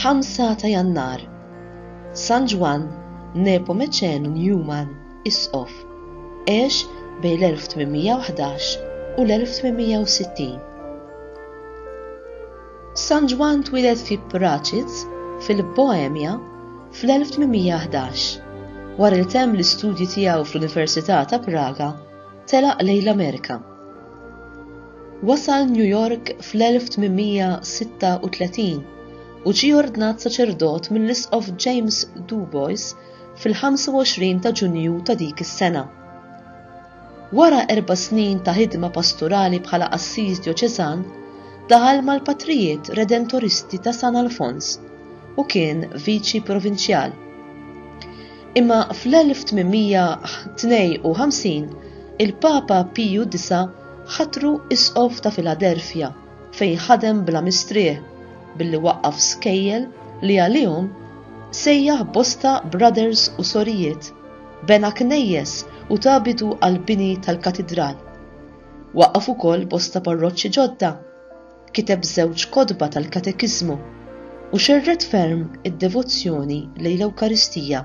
5 ta' Jannar San Ġwann Nepomeċen Newman Isqof. Għex bejn l-1811 u l-1860. San Ġwann twieled fi Prachitz, fil-Boemja, fl-1811. Wara li temm l-istudji tiegħu fl-Università ta' Praga, telaq lejn l-Amerika. Wasal New York fl-1836 u ġie ordnat saċerdot mill-Isqof James Dubois fil-25 ta' Ġunju ta' dik is-sena. Wara erba' snin ta' ħidma pastorali bħala qassis djoċeżan, daħal mal-Patrijiet Redentoristi ta' San Alfons u kien viċi provinċjal. Imma fl-1852 il-Papa Piju IX ħatru Isqof ta' Filadelfja. fejn ħadem bla mistrieħ billi waqqaf skejjel li għalihom sejjaħ bosta brothers u sorijiet, bena knejjes u ta bidu għall-bini tal-katidral. Waqqaf ukoll bosta parroċċi ġodda, kiteb żewġ kotba tal-katekiżmu u xerred ferm id-devozzjoni lejn l-Ewkaristija.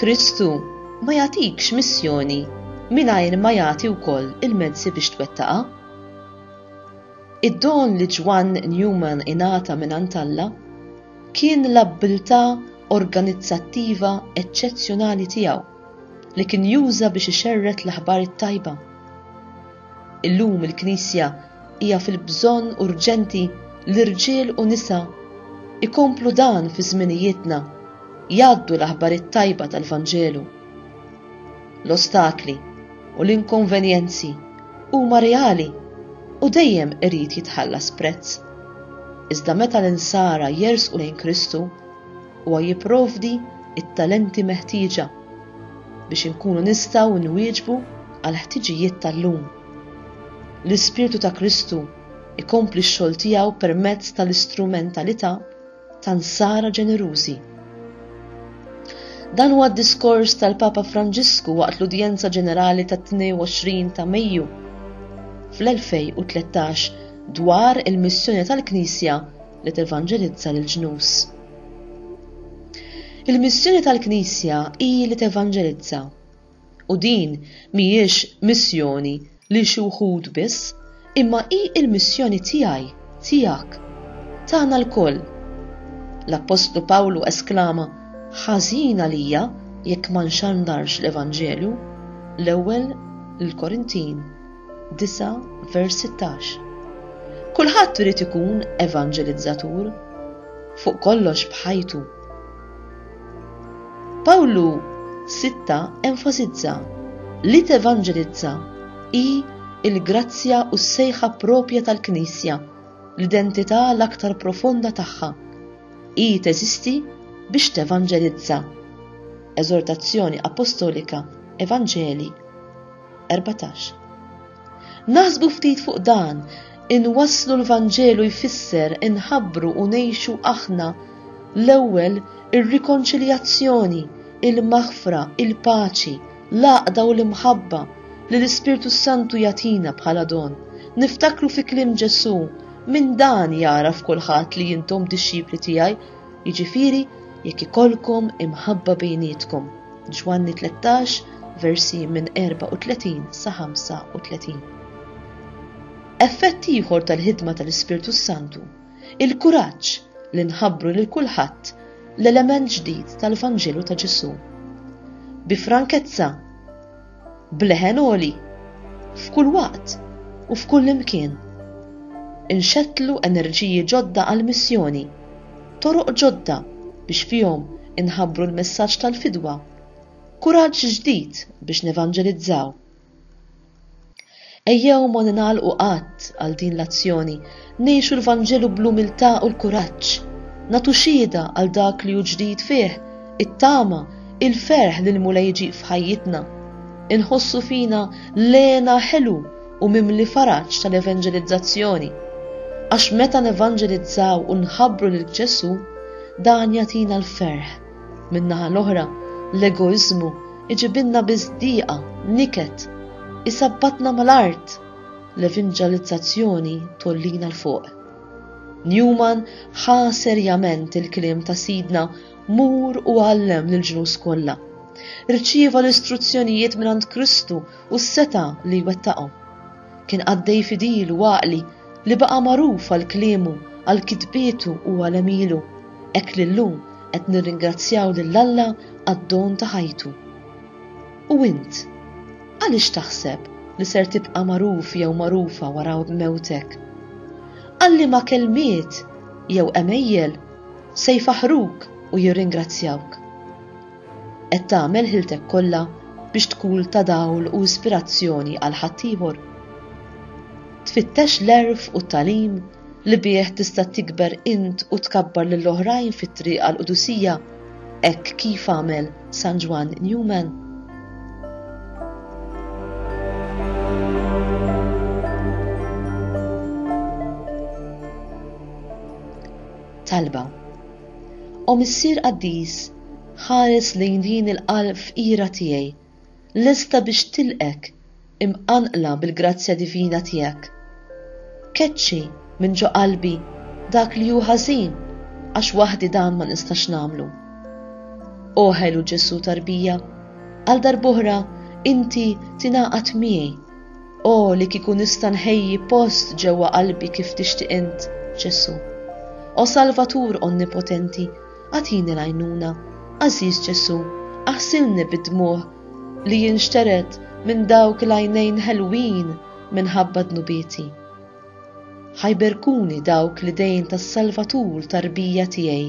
Kristu ma jagħtikx missjoni mingħajr ma jagħti wkoll il-mezzi biex twettaqha. Id-don li Ġwann Newman ingħata mingħand Alla kien l-abbiltà organizzattiva eċċezzjonali tiegħu li kien juża biex ixerred l-aħbar it-tajba. Illum il-Knisja hija fil-bżonn urġenti li rġiel u nisa jkomplu dan fi żminijietna jgħaddu l-aħbar it-tajba tal-Vanġelu. L-ostakli u l-inkonvenjenzi huma reali u dejjem irid jitħallas prezz. Iżda meta l-insara jersqu lejn Kristu, Huwa jipprovdi t-talenti meħtieġa biex inkunu nistgħu nwieġbu għall-ħtiġijiet tal-lum. L-ispirtu ta' Kristu jkompli x-xogħol tiegħu permezz tal-istrumentalità ta' nsara ġenerużi. Dan huwa d-diskors tal-Papa Franġisku waqt l-Udjenza Ġenerali tat-22 ta' Mejju fl-2013 dwar il-missjoni tal-Knisja li tevanġelizza lill-ġnus. Il-missjoni tal-Knisja hi li tevanġelizza, u din mhijiex missjoni li xi wħud biss, imma hi l-missjoni tiegħi, tiegħek, tagħna lkoll. L-Appostlu Pawlu esklama, Ħażin għalija jekk ma nxandarx l-Evanġelju, l-ewwel lill-Korintin 9 vers 16. Kulħadd irid ikun evanġelizzatur fuq kollox bħajtu. Pawlu sitta enfasizza li tevanġelizza hi il-grazzja u s-sejħa propja tal-Knisja, l-identità l-aktar profonda tagħha. Hi teżisti biex tevanġelizza. Eżortazzjoni Apostolika, Evanġeli, 14. Naħsbu ftit fuq dan, inwasslu l-Vanġelu jfisser inħabbru u nejxu aħna l-ewwel ir-rikonċiljazzjoni, il-maħfra, il-paċi, l-għaqda u l-imħabba li l-Ispirtu Santu jatina bħala don. Niftakru fi klim Ġesu, minn dan jara f'kulħadd li jintom dixxipli tiegħi jiġifieri jekk ikollkom imħabba bejnietkom, Ġwanni 13, versi minn 34 sa 35. Effett ieħor tal-ħidma tal-Ispirtu s-Santu, il-kuraġġ li nħabbru lil kulħadd l-element ġdid tal-Vanġelu ta' Ġesù. Bi frankezza, b'leħen għoli, f'kull waqt u f'kull imkien. Inxettlu enerġiji ġodda għall-missjoni, toroq ġodda biex fihom inħabbru l-messaġġ tal-fidwa, kuraġġ ġdid biex nevanġelizzaw. Ejjew ma ningħalqu qatt għal din l-azzjoni, ngħixu l-Vanġelu bl-umiltà u l-kuraġġ, nagħtu xhieda għal dak li hu ġdid fih, it-tama, il-ferħ li l-Mulej iġib f'ħajjitna. Inħossu fina l-hena ħelu u mimli faraġ tal-evanġelizzazzjoni. Għax meta nevanġelizzaw u nħabbru lil Ġesù, dan jagħtina l-ferħ. Min-naħa l-oħra, l-egoiżmu iġibilna biss diqa, niket, isabbatna mal-art, l-evinġelizzazzjoni tgħollina 'l fuq. Newman ħa serjament il-kliem ta' Sidna mur u għallem lill-ġnus kollha. Rċieva l-istruzzjonijiet mingħand Kristu u s-setgħa li jwettaqhom. Kien qaddej fidil u għaqli li baqa' magħruf għal kliemu, għal kitbietu u għal għemilu, hekk li llum qed nirringrazzjaw lil Alla għad-don ta' ħajtu. U int, għaliex taħseb li ser tibqa' magħruf jew magħrufa wara mewtek? Għal liema kelmiet jew għemejjel se jfaħħruk u jirringrazzjawk? Qed tagħmel ħiltek kollha biex tkun ta' dawl u ispirazzjoni għal ħaddieħor? Tfittex l-għerf u t-tagħlim li bih tista' tikber int u tkabbar lil oħrajn fit-triq għall-qdusija hekk kif għamel San Ġwann Newman? talba. O Missier qaddis, ħares lejn din il-qalb fqira tiegħi, lesta biex tilqek, imqanqla bil-grazzja divina tiegħek. Keċċi minn ġo qalbi dak li hu ħażin għax waħdi dan ma nistax nagħmlu. O ħelu Ġesù tarbija, għal darb'oħra inti tingħaqad miegħi O li kieku nista' nħejji post ġewwa qalbi kif tixtieq int, Ġesù. O Salvatur Onnipotenti, agħtini l-għajnuna, għażiż Ġesù, aħsilni bid-dmugħ li jinxtered minn dawk l-għajnejn ħelwin minħabba dnubieti. Ħa jberkuni dawk l-idejn tas-Salvatur tarbija tiegħi.